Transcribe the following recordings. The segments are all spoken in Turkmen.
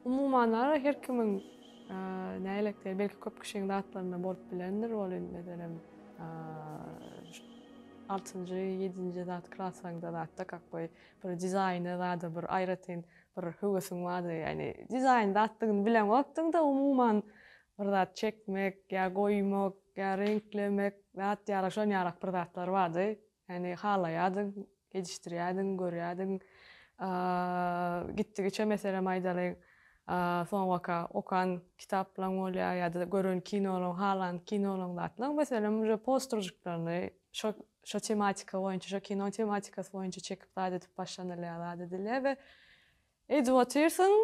Umuman ara her kimiň nälekteri, belki köp kişiň zatlarynda bolup bilendir, ol indi meselem altynjy, ýedinji zat klasaňda zatda kakgoý bir dizaýny zada bir aýratyn bir höwesiň bardy, ýagny dizaýn zatdygyny bileňokdyň-da, umuman bir zat çekmek ýa goýmak ýa reňklemek zat ýaly şon ýalak bir zatlar bardy. Ýagny halaýardyň, gecişdirýärdiň, görýärdiň. Gitdigiçe, meselem, aýdalyň, soňabaka okan kitaplaň bolýar ýa-da gören kinolaň, halan kinolaň zatlaň, meselem, uje postružiklaryny şo, şo tematika boýunça, şo kino tematikasy boýunça çekip zat edip başlanylýar, zat edilýär we edip otyrsyň,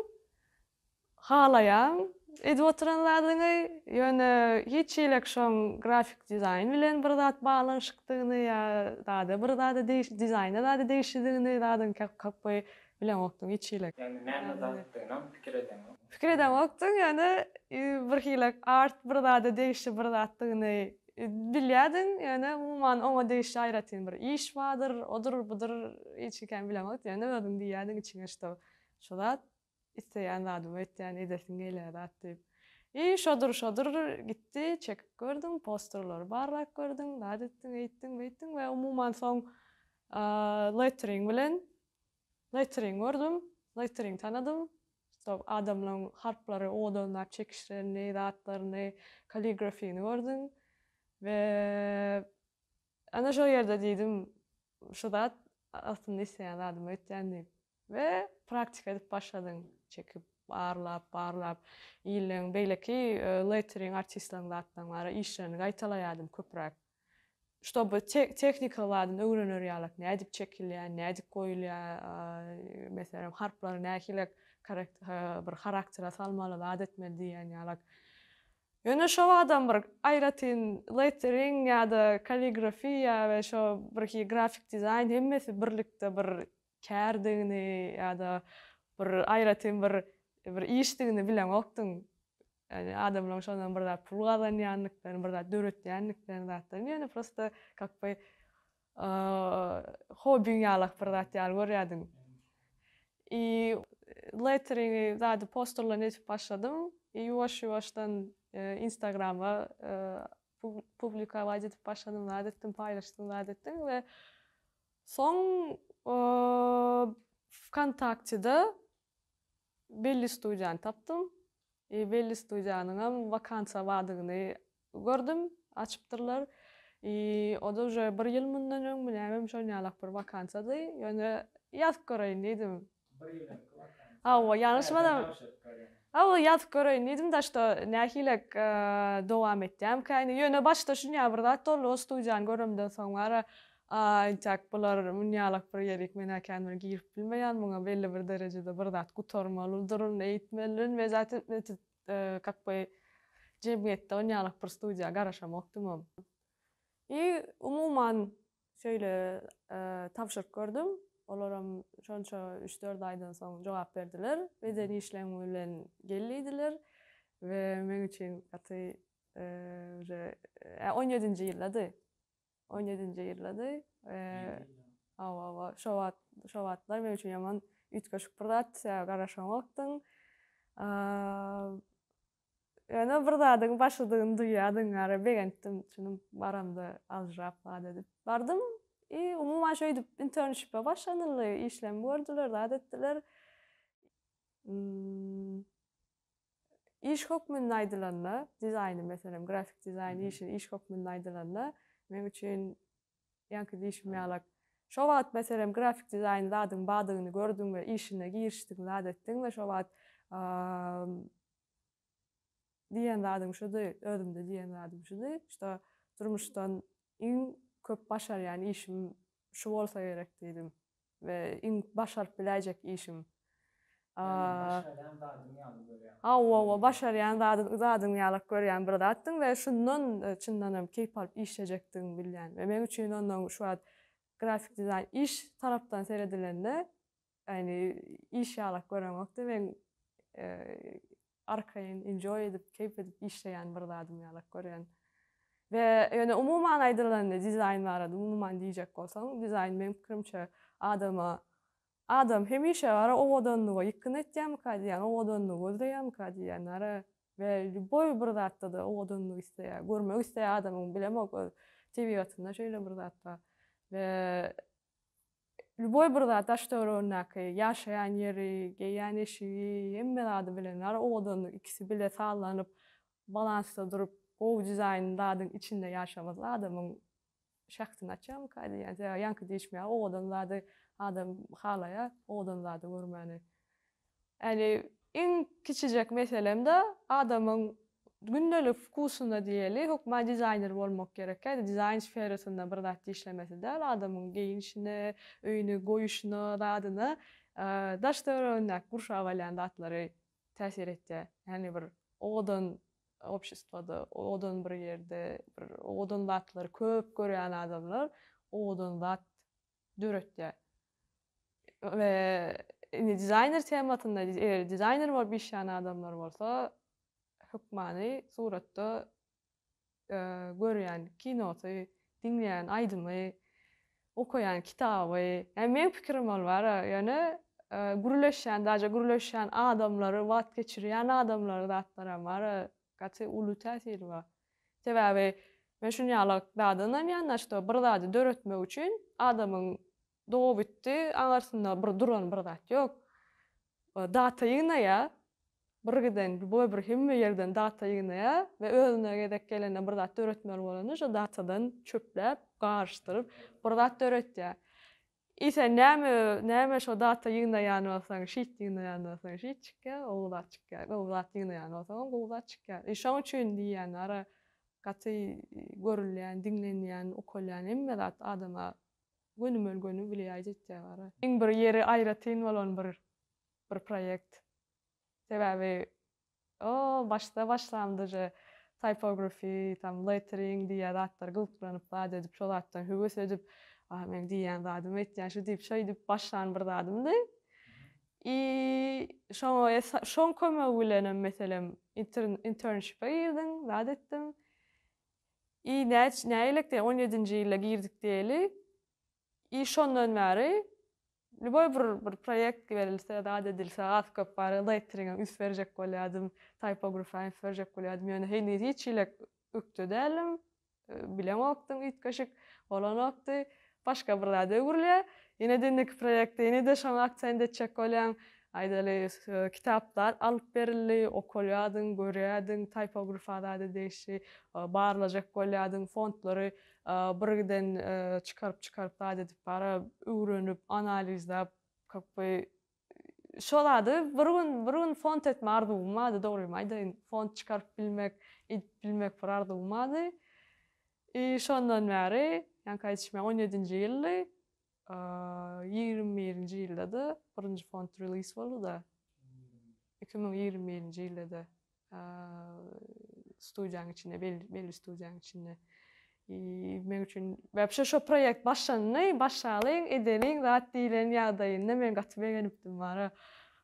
Halaýaň edip oturan zadyňy, ýöne hiç hileq şoň grafik dizaýn bilen bir zat baglanyşykdygyny ýa zada bir zada degişli dizaýna zada degişlidigini zadyň kakby bileňokdyň hiç hileq. Ýagny näme zatdygynam pikir edeňok. Pikir edeňokdyň, ýöne bir hileq art bir zada degişli bir zatdygyny bilýärdiň, ýöne umuman oňa degişli aýratyn bir iş bardyr, odur, budur hiç hikem bileňokdyň, ýöne özüň diýýärdiň içiňe şto şu zat Isleýän zadymy etýän, edesim gelýän zat diýip. I şodur, şodur gitdi, çekip gördüm, posterleri barlap gördüm, zat etdim, eýtdim, beýtdim we umuman soň lettering bilen lettering gördüm, lettering tanadym, stop adamlaryň harplary owadanlap çekişlerini, zatlaryny, kaligrafini gördüm we ana şol ýerde diýdim, şu zat aslynda isleýän zadymy etýän diýip. We praktika edip başladyň. Çekip, barlap, barlap, illeň beýleki lettering artistlaň zatlaň bar-a, işlerini gaýtalaýardym köpräk. Ştoby tehnika badyny öwrener ýalak, nädip çekilýär, nädip goýulýar, meselem, harplary nähilek bir haraktera salmaly, zat etmeli diýýän ýalak. Ýöne şo wagtam bir aýratyn lettering ýa-da kalligrafiýa we şo birhi grafik dizaýn hemmesi birlikde bir kärdigini ýa-da bir aýratyn bir bir işdigini bileňokdyň. Ýani adamlaryň şondan bir zat pul gazanýandyklaryny, bir zat döretýändiklerini zatlaryny ýöne prosta kak by hobbiň ýalak bir zat ýaly görýärdiň. I letteringi zady posterlerini edip başladym. I ýuwaş-ýuwaşdan instagrama publikować edip başladym zat etdim, paýlaşdym zat etdim we Soň Wkontaktede belli studiýany tapdym. I belli studiýanyňam wakansiýa bardygyny gördüm, açypdyrlar. I o-da uje bir ýyl mundan öňmi nämemi şonýalak bir wakansiýady. Ýöne ýazyp göreýin diýdim. Hawa, ýalňyşmasam, hawa ýazyp göreýin diýdim daşda nähilek dowam etýämkäýin. Ýöne başda şunýa bir zat boldy, o studiýany göremden soň bara, a intäk bular munýalak bir ýerik, men äkändir girip bilmeýän muňa, belli bir derejede bir zat gutarmalydyryn, eýtmelin we zatyn öýtüp kak by jemgyýetde onýalak bir studiýa garaşamokdymam. I umuman Şeýle tabşyryk gördüm. Olaram şonça üç-dört aýdan soň jogap berdiler. Beden işleň bilen gel diýdiler we meň üçin gaty uje on ýedinji ýyldady. On ýedinji ýyldady. Hawa, hawa, şo wagt, şo wagtlar meň üçin ýaman üýtgeşik bir zat, sebäbi garaşanokdym. Ýöne bir zadyň başydygyny duýýardyň ara begendim çynym baramda aljyrap zat edip bardym i umuman şeýdip internşipe başlanyldy işlem gördüler zat etdiler iş hökmünde aýdylanda dizaýny meselem grafik dizaýn işi iş hökmünde aýdylanda meň üçin Ýaňky diýşim ýalak. Şo wagt, meselem, grafik dizaýn zadyň badygyny gördüň we işine girişdiň, zat etdiň we şo wagt diýen zadym şudy, özümde diýen zadym şudy, şda durmuşdan iň köp başarýan işim şu bolsa gerek diýdim. we iň başaryp biläýjek işim. Başarýan zadyň ýaly görýäň. Hawa, hawa, başarýan zadyň, zadyň ýalak görýän bir zatdyň we şundan çyndan hem keýp alyp işlejekdigiňi bilýän we meň üçin ondan şu wagt grafik dizaýn iş tarapdan seredilende, ýagny iş ýalak göreňokdy, meň arkaýyn enjoy edip keýp edip işleýän bir zadym ýalak görýän we ýöne umuman aýdylanda dizaýn barada umuman diýjek bolsaň dizaýn meň pikirimçe adama adam hemişe gara owadanlyga ýykgyn etýämika diýýän owadanlygy gözleýämika diýýän gara we lýuboý bir zatdada owadanlygy isleýär görmek isleýär adamyň bilemok öz tebigatynda şeýle bir zat bar we Lýuboý bir zat daş-töweregindäki, ýaşaýan ýeri, geýýän eşigi, hemme zady bilen bar, owadanlyk ikisi bile sazlanyp, balansda durup, gowy dizaýnly zadyň içinde ýaşamasy adamyň şähdini açýarmyka diýýän. Sebäbi ýaňky diýişmeýär, owadan zady adam halaýar, owadan zady görmäni. Ýagny iň kiçijek meselem-de adamyň gündelik wkusynda diýeli, hökman dizaýner bolmak gerekkä, dizaýn sferasynda bir zat işlemesi däl, adamyň geýinişine, öýüni goýuşyna, zadyna, daş-töweregindäki gurşap alýan zatlary täsir etýär. Ýagny bir owadan obşestwoda, owadan bir ýerde, bir owadan zatlary köp görýän adamlar owadan zat döretýär. We indi dizaýner temasynda eger dizaýner bolup işleýän adamlar bolsa hökmany suratda görýän kinosy, diňleýän aýdymy, okaýan kitaby, ýa meň pikirim ol bara ýöne gürleşýän daže gürleşýän adamlary wagt geçirýän adamlary zatlaram bara gaty uly täsiri bar. Sebäbi men şunýala zada ynanýan, na şto bir zady döretmek üçin adamyň dobitdi aňarsynda bir duran bir zat ýok. Data ýygnaýa, bir giden bu bir hemme ýerden data ýygnaýa we özüne gezek gelende bir zat döretmeli bolanda şo datadan çöpläp, garyşdyryp bir zat döretýä. I sen näme näme şo data ýygnaýan bolsaň şit ýygnaýan bolsaň şit çykýa gowy zat çykýa gowy zat ýygnaýan bolsaňam gowy zat çykýa i şoň üçin diýýän ara gaty görülýän diňlenýän ukalýan hemme zat adama gönümel göni wlýaýt etýä ara. Iň bir ýeri aýratyn bolan bir bir proýekt sebäbi O, başda başlam duje typography, tam lettering diýýä zatlar gyzyklanip zat edip şo zatdan höwes edip, a meň diýýän zadym etýän şu diýip şeý diýip başlan bir zadymdy. I şoňa es şoň kömegi bilenem meselem inter internship-e girdim, zat etdim. I näç näýelekde on ýedinji ýylda girdik diýeli. I şondan bäri lýuboý bir bir proýekt berilse, zat edilse, az-köp barygy Leiteriňem üns berjek bolýardym, Typografyňam üns berjek bolýardym, ýöne heniz hiç hili ökde däldim, bilemokdym üýtgeşik bolanokdy. Başga bir zada öwrülýär. Ýene-de indiki proýekte ýene-de şoňa aksent etjek bolýan. Aýdaly, kitaplar alyp berildi, okalýardyň, görýärdiň, typografa zada degişli barlajak bolýardyň, fontlary Birgiden çykaryp çykaryp zat edip bara öwrenip analizläp kak by şo zady bir gün bir gün font etme arzuwym bardy dogrymy aýdaýyn font çykaryp bilmek edip bilmek bir arzuwym bardy i şondan bäri ýaňky aýdyşym ýaly on ýedinji ýyldy Ýigrimi birinji ýylda-da birinji fond release boldy-da. Iki müň ýigrimi birinji ýylda-da studiýanyň içinde, belli studiýanyň içinde. Men üçin, wapşe şo proýekt başlandy, başlalyň, edeliň zat diýlen ýagdaýynda men gaty begenipdim, bara.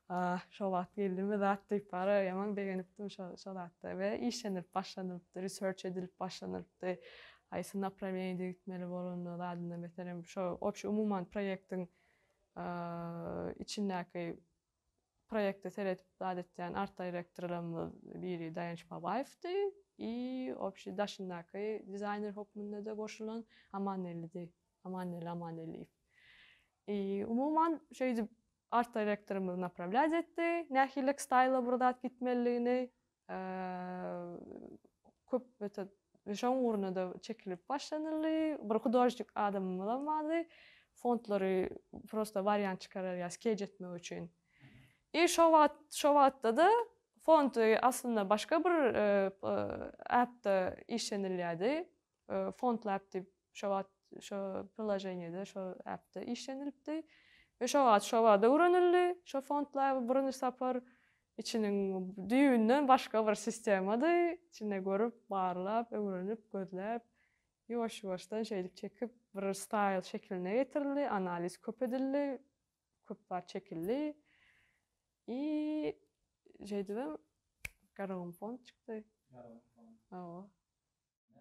Ah, şo wagt geldi-mi zat diýip bara ýaman begenipdim şo şo zatda we işlenilip başlanylypdy, research edilip başlanylypdy. Haýsy naprawiýeniýede gitmeli bolanda zadynda meselem şo obşi umuman proýektiň içindäki proýekte seredip zat etýän art direktorlarymyz biri Daýanç Babaýewdi i obşi daşyndaky dizaýner hokmunda-da goşulan Amanellidi, Amanelli Amanelliýew. I umuman şeýdip Artdirektorymyz naprawlýat etdi, nähiliräk staýla bir zat gitmelidigini, köp metod we şoň ugrunda-da çekilip başlanyldy. Bir hudožnik adamymyzam bardy, fondlary prosta wariant çykararýa skeç etmek üçin. I şo wagt, şo wagtda-da fond aslynda başga bir äpde işlenilýärdi. Fondlab diýip şo wagt şo priloženiýede, şo äpde işlenilipdi we şo wagt şo barada öwrenildi. Şo Fondlab birinji sapar içiniň düýbünden başga bir sistemady. Içinde görüp, barlap, öwrenip, gözläp, ýuwaş-ýuwaşdan şeýdip çekip bir staýl şekiline getirildi, analiz köp edildi, köp zat çekildi. I şeýdibem Garagum Fond çykdy. Garagum Fond. Hawa.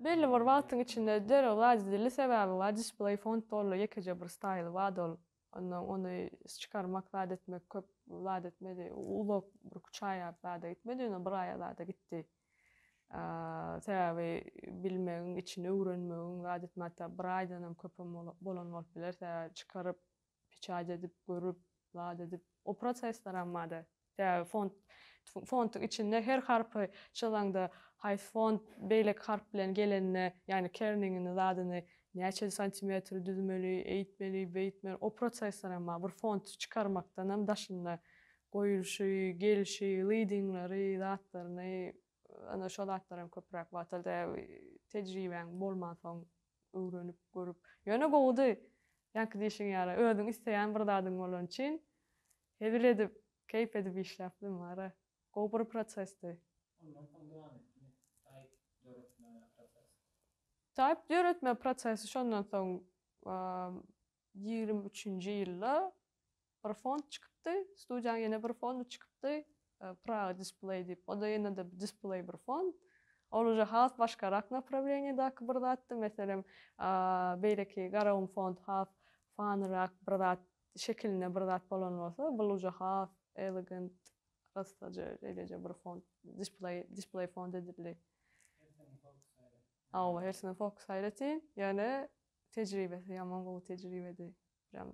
Belli bir wagtyň içinde derrew razy edildi, sebäbi bar display font boldy, ýekeje bir staýl bardy ol, ondan ony çykarmak zat etmek köp zat etmedi, uzak bir üç aýa zada gitmedi, ýöne bir aýa zada gitdi, sebäbi bilmegiň içini öwrenmegiň zat etme hatda bir aýdanam köpem bolan bolup biler, sebäbi çykaryp Peçat edip, görüp, zat edip, o prosesleram bada. Sebäbi font, fontyň içinde her harpy çyzaňda, haýsy font beýleki harp bilen gelende, ýagny kerningini, zadyny, näçe santimetr düzmeli, eýtmeli, beýtmeli, o prosesleram bar. Bir fonty çykarmakdanam daşynda, goýulşy, gelşi, leadingleri, zatlaryny, Ana şo zatlar hem köpüräk wagtalda tejribäň bolmansoň öwrenip görüp ýöne gowudy. Ýaňky diýşiň ýaly özüň isleýän bir zadyň bolany üçin hezil edip, keýp edip işläpdim wara. Gowy bir prosesdi. Ondan soň dowam etdimi saýt döretme prosesi? Saýt döretme prosesi şondan soň ýigrimi üçünji ýylda Bir font çykypdy, studiýaň ýene bir fondy çykypdy, Praga Display diýip, o-da ýene-de display bir fond. Ol uje has başgarak naprawleniýadaky bir zatdy, meselem, beýleki garagum fond has fanyrak bir zat şekilinde bir zat bolan bolsa, bul uje has elegant, yssaja şeýleje bir fond, display, display fond edildi. Hawa, hersini fokus aýratyn, ýöne tejribesi ýaman gowy tejribedi. Ýa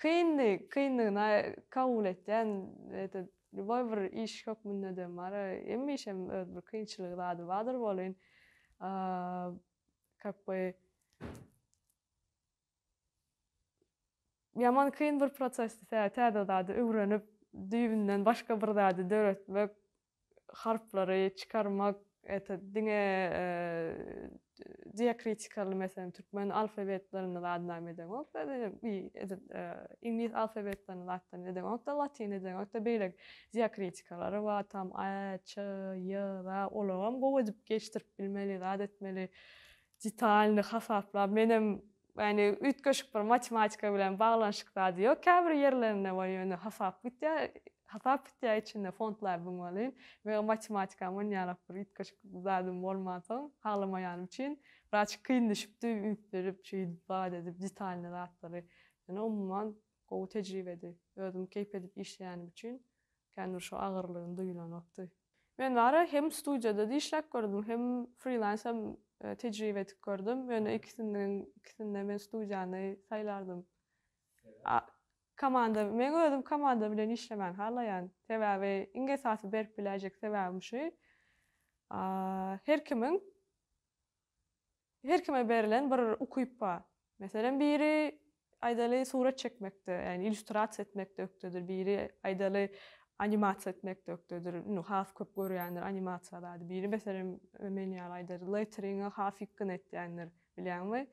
kyndy, kyndygyna kabul etýän ýa-da lýuboý bir iş hökmünde de bar, hemme işem öz bir kynçylygy zady bardyr welin, kak by, ýaman kyn bir prosesdi, tä täze zady öwrenip, düýbünden başga bir zady döretmek, harplary çykarmak, ete, diňe diakritikaly, meselem, türkmen alfabetlerini zat näme edeňok, edil iňlis alfabetlerini zatdan edeňok-da, latyn edeňok-da, beýle diakritikalary bar, tam, a, ç, y, za, olaram gowy edip geçdirip bilmeli, zat etmeli. Detalny hasaplap menem yani üýtgeşik bir matematika bilen baglanyşyk zady ýok käbir ýerlerinde bar ýöne hasap gitýä hasap gitýä içinde fontlar biň welin meň matematikam onýalak bir üýtgeşik zadym bolmansoň haglamaýanym üçin biraz kyn düşüpdi üýtgedip şeýdip zat edip detalny zatlary ýöne umuman Gowy tejribedi. Özüm keýp edip işleýänim üçin känbir şu agyrlygyny duýlanokdy. Men bary hem studiýada-da işläp gördüm, hem frilans-am tejribe edip gördüm. Ýöne ikisiniň ikisinde men studiýany saýlardym. Komanda, men özüm komanda bilen işlemäni halaýan. Sebäbi iň esasy berip biläýjek sebäbim şu, her kimiň Her kime berilen bir ukyp bar. Meselem, biri, aýdaly, surat çekmekde, ýagny illýustrasiýa etmekde ökdedir, biri, aýdaly, animasiýa etmekde ökdedir, indi has köp görýändir animasiýa zady, biri, meselem, men ýaly, aýdaly, letteringi has ýykgyn etýändir, bilýäňmi?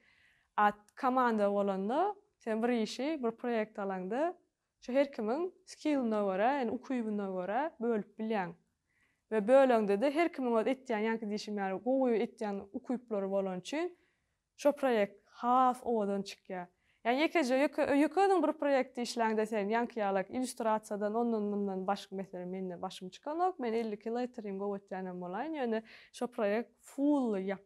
A komanda bolanda, sen bir işi, bir proýekt alaňda, Şu her kimiň skilline görä, ýani ukybyna görä bölüp bilýäň. We böleňde-de her kimiň öz etýän ýaňky diýşim ýaly gowy etýän ukyplary bolany üçin şo proýekt has owadan çykýar. Ýani ýekeje ýöke ýöke özüň bir proýektde işläňde sen ýaňky ýalak illýustrasiýadan ondan mundan baş meselem mende başym çykanok men elli kilo etirýin gowy etýänem bolaýyn ýöne şo proýekt fully ýap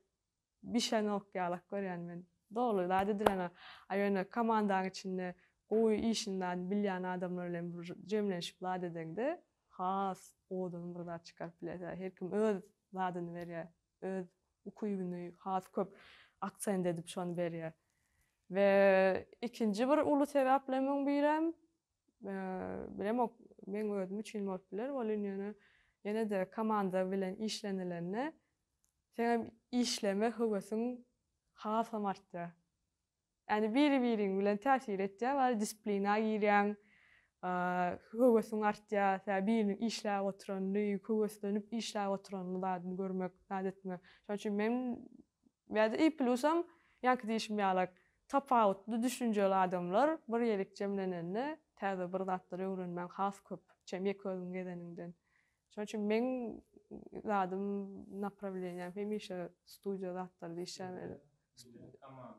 Bişenok ýalak görýän men. Doly zat edileňä. A ýöne komandaň içinde gowy işindan bilýän adamlar bilen bir jemlenşip zat edeňde has owadan bir zat çykaryp bilersiňä. Her kim öz zadyny berýär. Öz ukybyny has köp aksent edip şony berýär. We ikinji bir uly sebäplemiň birem bilemok meň özüm üçin bolup biler. Welin ýöne ýene-de komanda bilen işlenilende Seňem işleme höwesiň hasam artýar. Ýani biri-biriň bilen täsir etýär, bari disiplina girýäň, höwesiň artýar, sebäbi biriniň işläp oturanyny, höweslenip işläp oturanyny zadyny görmek, zat etmek. Şonuň üçin men bäde i plusam ýaňky diýşim ýalak, tapawutly düşünjeli adamlar bir ýerik jemlenende täze bir zatlar öwrenmäň has köp, çem ýeke özüň gezeniňden. Şonuň üçin meň zadym, naprawleniýäm hemişe studiýa zatlarda işlemeli.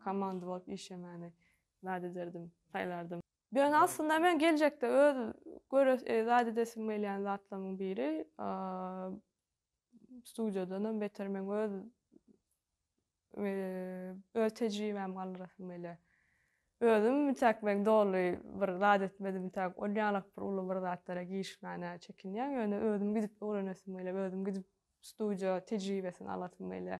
Komanda bolup işlemäni zat ederdim, saýlardym. Ýöne aslynda men geljekde öz göresi, zat edesim gelýän zatlarymyň biri, studiýadanam beter meň öz Öz tejribämi galdyrasym gelýär. Özüm ünçäk men doly bir zat etmedim, ünçäk ol ýalak bir uly bir zatlara girişmäne çekinýän. Ýöne özüm gidip öwrenesim gelýär, özüm gidip studiýa tejribesini alasym gelýär.